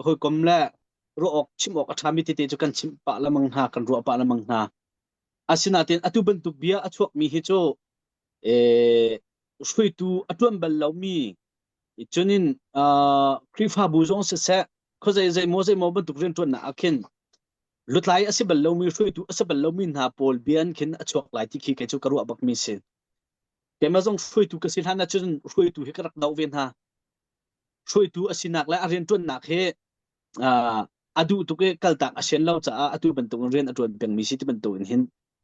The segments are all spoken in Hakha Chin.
hawikom le ruah awk chim awk a ṭhami tete cu kan chimh pah lemang hna, kan ruah pah lemang hna. Asinain atu bantuk bia a chuakmi hi cu eh, hruitu a ṭuan bal lomi cunin uh, Khrihfabu zong siseh, khawzei zeimaw zeimaw bantuk rianṭuannak ah khin lutlai a si bal lomi hruitu a si bal lomi hna pawl bia an khin a chuak lai ti khi kei cu ka ruah bakmi si. Keimah zong hruitu ka si hlan ahcun hruitu hi ka rak doh ve hna. hruaitu a sinak le a rianṭuannak hi a duh tuk i kaltak a sian lo caah atu bantukin rian a ṭuan pengmi si ti bantukin hin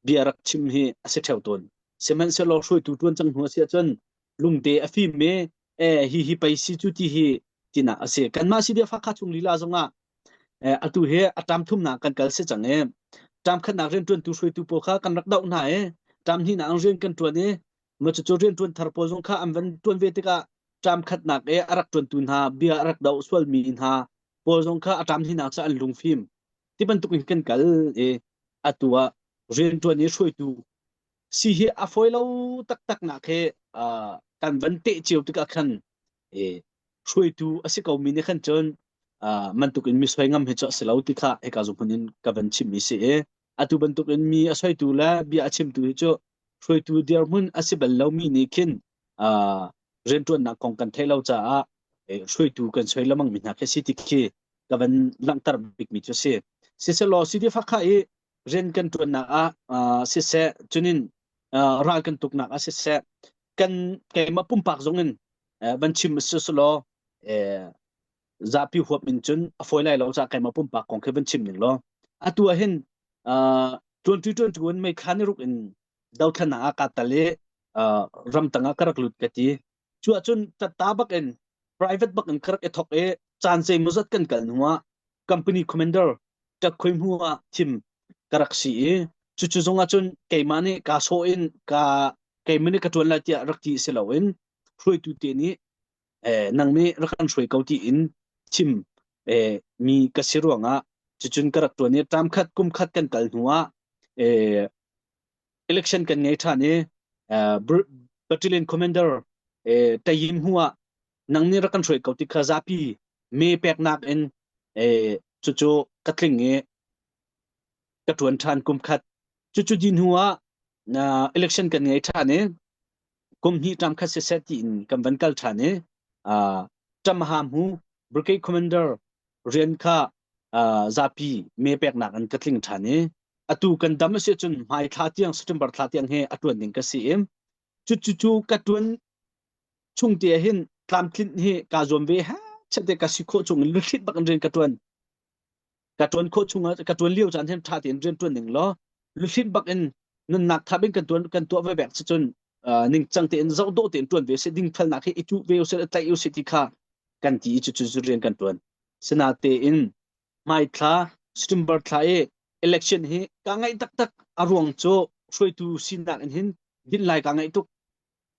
bia rak chim hi a si ṭheo tawn. Sihmanhsehlaw hruaitu ṭuan cang hnu a si ahcun lungte a fim i e hi hi pei si cu ti hi tinak a si. Kanmah si biafak kha chung lila zongah atu hi a ṭam thumnak kan kal si cang i ṭam khatnak rianṭuantu hruaitu pawl kha kan rak doh hna i ṭam hnihnak in rian kan ṭuan i Mah cucu rianṭuan thar pawl zong kha an van ṭuan ve tikah ṭam khatnak i a rak ṭuantu hna, bia a rak doh sualmi hna pawl zong kha a ṭam hlinak caah an lungfim. Ti bantuk in kan kal i atu ah rianṭuan i hruaitu si hi a fawi lo taktaknak hi uh, kan van teh cio tikah khan i hruaitu a si komi nih khan cun uh, man tuk in misoi ngam hi cu a si lo ti kha hika zumhun in ka van chim i si i Atu bantukin mi a soitu le bia a chimtu hi cu hruaitu dirhmun a si bal lomi nih khin uh, rianṭuannak kong kan theih lo caah hruaitu kan soi lamang mi hna khi si ti khi ka van langhter bikmi cu si. Siselaw sidi fakha i rian kan ṭuannak ah uh, siseh cunin uh, ral kan tuknak ah siseh kan keimah pumpak zong in uh, van chim siselaw uh, zapi huap in cun a foi lai lo ca keima pumpak kong khi van chim ning law atu ah hin tuanṭi ṭuanṭu in meikhan i ruk in dothlannak ah kaa tal i ramtang ah ka rak lut ka ti cuah cun tatta bak in private bak in ka rak i thok i caan zeimawzat kan kal hnu ah company commander ṭak khoi hmu ah thim ka rak si i cucu zong ah cun keimah nih kaa sawh in ka keimah nih ka ṭuan lai tiah rak ti si loin hruaitu te nih eh, nang nih rak kan hruai ko tiin chim eh, mi ka si ruangah cucun ka rak tuan i tam khat kum khat kan kal hnu ah eh, election kan ngei ṭhan i eh, battalion commander eh, tayim hua nang nih rak kan hruai ko ti kha zapi me peknak in eh, cucu ka tling i ka tuan ṭhan kum khat cucu din hua uh, election kan ngei ṭhan i kum hnih ṭam khat siseh tiin kan van kal ṭhan i ṭamaha hmu brigade commander rian kha zapi mee peknak in ka tling ṭhan i atu kan dam a si cun hmai thla tiang September thla tiang he a ṭuan ding ka si i cucu ka ṭuan chung te hin tlamtlinh hi ka zuam ve ha chate ka si khawh chung in luthlit bak in rian ka ṭuan ka tuan khawh chungah ka tuan lio caan hin tha tein rian tuan ning law luhlin bak in nunnak thap in kan tuan kan tuah ve bek si cun ningcang tein zoh dawh tein tuan ve se ding thalnak hi itu ve se tlaih u se ti kha kan ti i cucu rian kan tuan sina tein mai thla September thla i election hi ka ngai taktak a ruang cu hruaitu sinak in hin din lai ka ngai tuk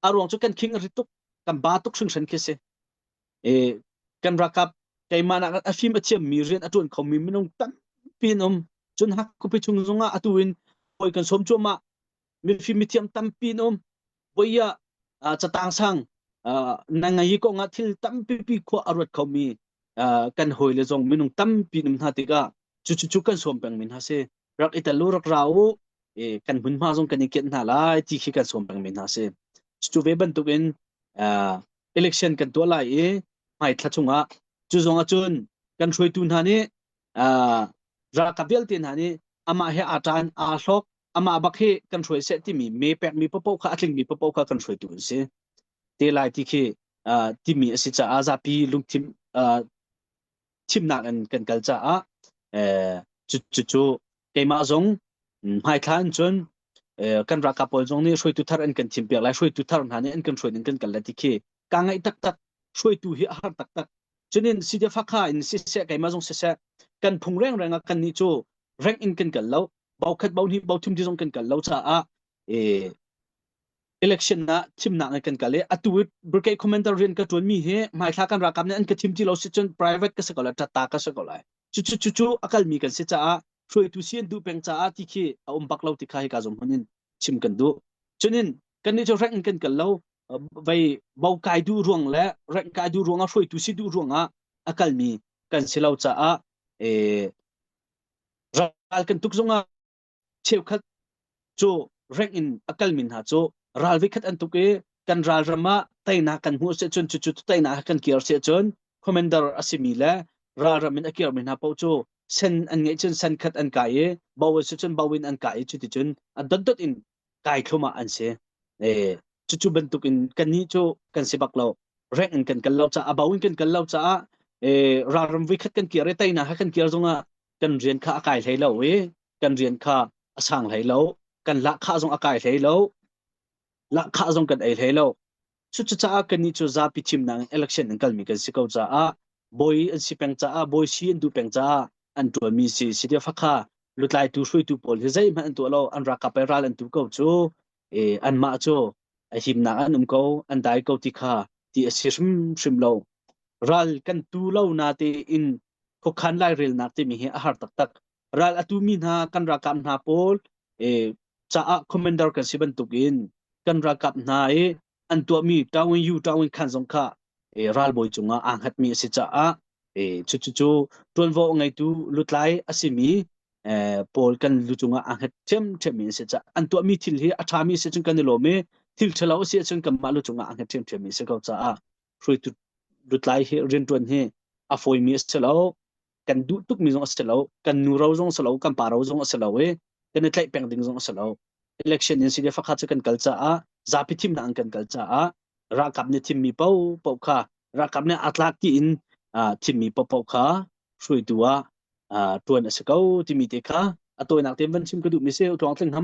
a ruang cu kan khing a rit tuk kan ba tuk hringhren khi si Eh, kan ralkap keimah nak a hrim a thiammi rian a ṭuan khomi minung tampi an um. Cun hakkupi chung zongah atu in hawi kan sawm cuahmah. Mifim mithiam tampi an um. Voia uh, catang sang uh, na ngai ko nga thil tampi pi khua a ruat khomi uh, kan hawi le zong minung tampi num hna tikah cu cu cu kan sawm peng min ha si. Rak italu rak ra u eh, kan hmun hma zong kan i kiet hna lai ti khi kan sawm peng min ha si. Cu ve bantukin uh, election kan tuah lai i hmai thla chungah cu zong ah cun kan hruaitu hna nih ralkap vialte hna nih amah he aa ṭan aa hlawk amah bak hi kan hruai seh timi me pekmi paoh kha a tlingmi paoh kha kan hruaitu an si te lai ti khi timi a si caah zapi lungthin thimnak in kan kal caah cucu keimah zong hmaithla in cun kan ralkap pawl zong nih hruaitu thar an kan thim piak lai hruaitu thar hna nih an kan hruai ning kan kal lai ti khi ka ngaih taktak hruaitu hi a har taktak cunin side fakha in siseh keimah zong siseh kan phung reng reng ah kan nih cu reng in kan kal lo bau khat bau hnih bau thim ti zong kan kal lo caah election ah chimnak in kan kal i atu brigade commander rian ka tuan mi hi hmaithla kan rakam nih an ka chim ti lo si cun private ka si ko lai tatta ka si ko lai cu cu cu cu a kal mi kan si caah hruaitu sian duh peng caah ti khi a um bak lo ti kha hi ka zum hun in chim kan duh cunin kan ni cu rank in kan kal lo vei bo kai du ruang le rank kai du ruang a hruaitu si du ruang ah a kal mi kan si lo caah e ral kan tuk zung ah Cheukhat cu reng in a kalmi hna cu ral vikhat an tuk i kan ralram ah teinak kan hmuh asih cun cucu teinak he kan kir asih cun commander a simi le ralram in a kirmi hna paoh cu sen an ngeih cun sen khat an kai i bo a si cun bo in an kai i cuticun a dotdot in kai thlum ah an si. Eh, cucu bantukin kannih cu kan si bak lo. Reng in kan kal lo caah, a bo in kan kal lo caah, eh, ralram vikhat kan kir i teinak he kan kir zongah kan rian kha a kai hlei lo i kan rian kha a sang hlei lo kan lahkhah zong a kai hlei lo lahkhah zong kan ei hlei lo cucaah kannih cu zapi thimnak in election an kalmi kan si ko caah bawi an si peng caah bawi si an duh peng caah an tuanmi si si dia fakha lutlaitu hruaitu pawl hi zeihmanh an tuah lo an rakap i ral an tu ko cu e, anmah cu a himnak an um ko, an dai ko ti kha ti a si hrimhrim lo. Ral kan tu lo na te in khokhan lai relnak timi hi a har taktak. Ral a tu mi hna kan rakap hna pawl e, caah commander kan si bantuk in kan rakap hna i an tuahmi tawin yu tawin khan zong kha e, ralbawi cungah aa hngatmi a si caah e, cucu tuanvo ngeitu lutlai a simi e, paul kan lu cungah aa hngat ṭhiamṭhiammi a si caah an tuahmi thil hi a ṭhami si cun kan i lawm i thil ṭhalo a si cun kanmah lu cungah aa hngat ṭhiamṭhiammi a si ko caah hruaitu lutlai hi rianṭuan hi a fawimi a si lo kan duh tukmi zong a si lo kan nu ro zong a si lo kan pa ro zong a si lo i kan i tlaih peng ding zong a si lo election in side fakha cu kan kal caah zapi thimnak an kan kal caah ralkap nih thimmi paohpaoh kha ralkap nih atlak tiin thimmi paohpaoh kha hruaitu ah ṭuan a si ko timi te kha a tawinak te van chim ka duhmi si tluang tling hama